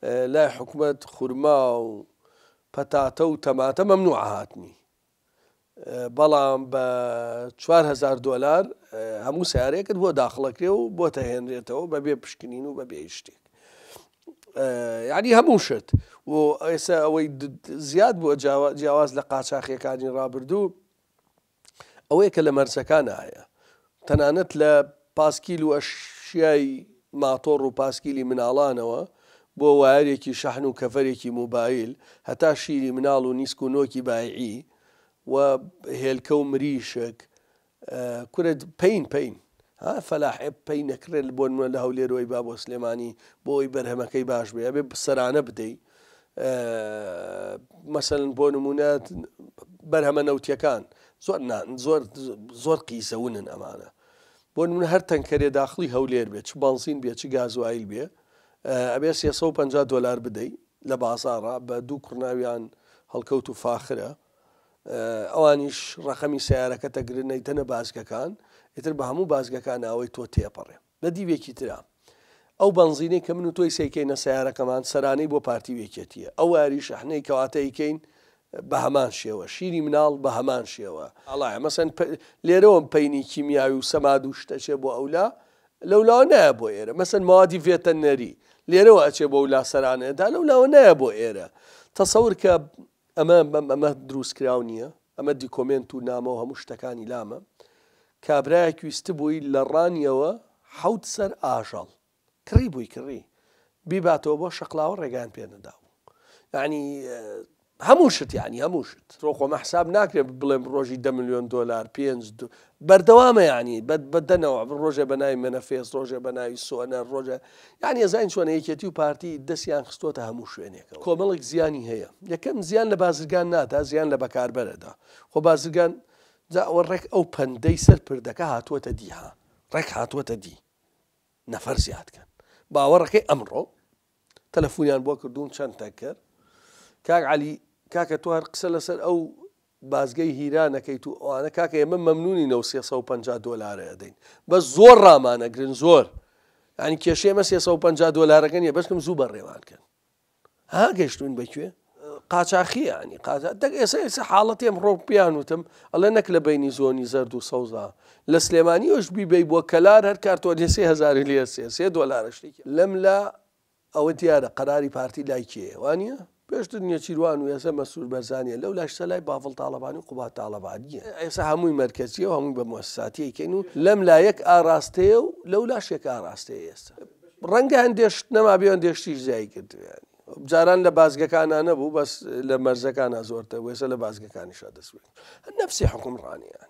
لای حکومەت خورما و پەتاتە و تەماتە مەمنوعە هاتنی بەڵام بە 4هزار دۆلار هەموو سیارێکت بۆ داخڵەکرێ و بۆ تەهێنرێتەوە بەبێ پشکنین و بەبێ شتێک یعنی هەموو شت و ئێستا ئەوەی زیاد بووە جیاواز لە قاچاخیەکانی ڕابردوو ئەوەیە کە لە مەرزەکانا هەیە، تەنانەت لە پاسکیل و ئەشیای ماتۆڕ و پاسکیلی مناڵانەوە بۆ وایەرێکی شەحن و کەڤەرێکی موبایل هەتا شیری مناڵ و نیسک و نۆکی بایعی و هێلکە و مریشک کورە پەین پەین ها فەلاح پەینەکرێت بۆ نمە لە هەولێرۆی با بۆ سلێمانی بۆی بەرهەمەکەی باش بێ بێ سەرانە بدەیت مەسەلەن بۆ نموونە بەرهەمە نەوتیەکان زۆر زۆر زۆر قیزەونن ئەمانە بۆ نمونە هەر تەنکەرێ داخلی هەولێر بێت چ بەنزین بێت چ گازوایل بێ ئەبێ 350 دلار بدەیت لە بازارڕا بە دوو کوڕناویان هەڵکەوت و فاخرە ئەوانیش ڕقەمی سیارەکە تەگرنەیتەنە بازگەکان ئیتر بە هەموو بازگەکان ئەوەی تۆ تێپەڕێ نە دیوێکی ترە ئەو بەنزینەی کە من و تۆی سەیکەینە سەیارەکەمان سەرانەی بۆ پارتی و یەکێتیە ئەو وایەری شەحنەی کەواتە ئیکەین بە هەمان شێوە شیری مناڵ بە هەمان شێوە ئاڵایە مەسەن لێرەوەم پەینی کیمیاوی و سەماد و شتە چێ بۆ ئەولا لەولاوە نایە بۆ ئێرە مەسەن موادی ڤێتەنەری لێرەوە ئەچێ بۆ ئەولا سەرانەیە دا لەولاوە نایە بۆ ئێرە تەسەور کە ئەمە ئەمە دروست کراو نیە ئەمە دیکۆمێنت و نامەو هەموو شتەکانی لامە کابرایەک ویستبووی لە ڕانیەوە حەوت سەر ئاژەڵ کڕی بووی کڕی بیباتەوە بۆ شەقلاوە ڕێگان پێ نەداو یعنی هەموو شت یعنی هەموو شت ڕۆ خۆمە حساب ناکرێت بڵێم ڕۆژی دە ملیۆن دۆلار پێنج بەردەوامە یانی بە بە دە نەوع ڕۆژێ بە ناوی مەنەفێس ڕۆژێ بە ناوی سۆنەر ڕۆژە یانی ئەزانین چۆنە یەکێتی و پارتی دەستیان خستۆتە هەموو شوێنێکەوە کۆمەڵێک زیانی هەیە یەکەم زیان لە بازرگان نادا زیان لە بەکاربەرەدا خۆ بازرگان جا ئەوە ڕێک ئەو پەندەی سەر پردەکە هاتووەتە دی ها ڕێک هاتووەتە دی نەفەر زیاد کەن باوەڕەکەی ئەمڕۆ تەلەفۆنیان بۆ کردووم چەند تەکەر کاک علی کاکە توار قسە لەسەر ئەو بازگەی هیرا نەکەیت و ئەوانە کاکە ئێمە مەمنونین ئەو سێ سەد و پەنجا دۆلارە ئەدەین بەس زۆر ڕامان ئەگرن زۆر یانی کێشەی ئێمە سێ سەد و پەنجا دۆلارەکە نیە بەسکم زوو بەڕێوان کەن ها گەشتوین بەکوێ قاچاخی ینی قاچا دەک ئێستا ئێستا حاڵەتی ئەم ڕۆک بیان وتم ئەڵێ نەک لە بینی زۆنی زەرد و سەوزا لە سلێمانیش بیبی بۆ کەلار هەر کارتۆنی سێ هزاری لێ سێ سێ دۆلارشتێکی لەم لە ئەوە دیارە قەراری پارتی لای کێیە وانیە؟ پێشتر نێچیروان و ئێسە مەسرور بەرزانیە لەو لاشسە لای باڤڵ تاڵەبانی و قوباد تاڵەبانیە ئێسە هەمووی مەرکەزیە و هەمووی بە موسساتی ئەیکەین و لەم لا یەک ئاراستەیە و لەو لاش یەک ئاراستەیە ئێسە ڕەنگە هەندێ شت نەمابێ و هەندێ شتیش زیایی کردبێ جاران لە بازگەکانا نەبوو بەس لە مەرزەکانا زۆرتر بوو ئێسە لە بازگەکانیشا دەست بێ نەفسی حوکمڕانیان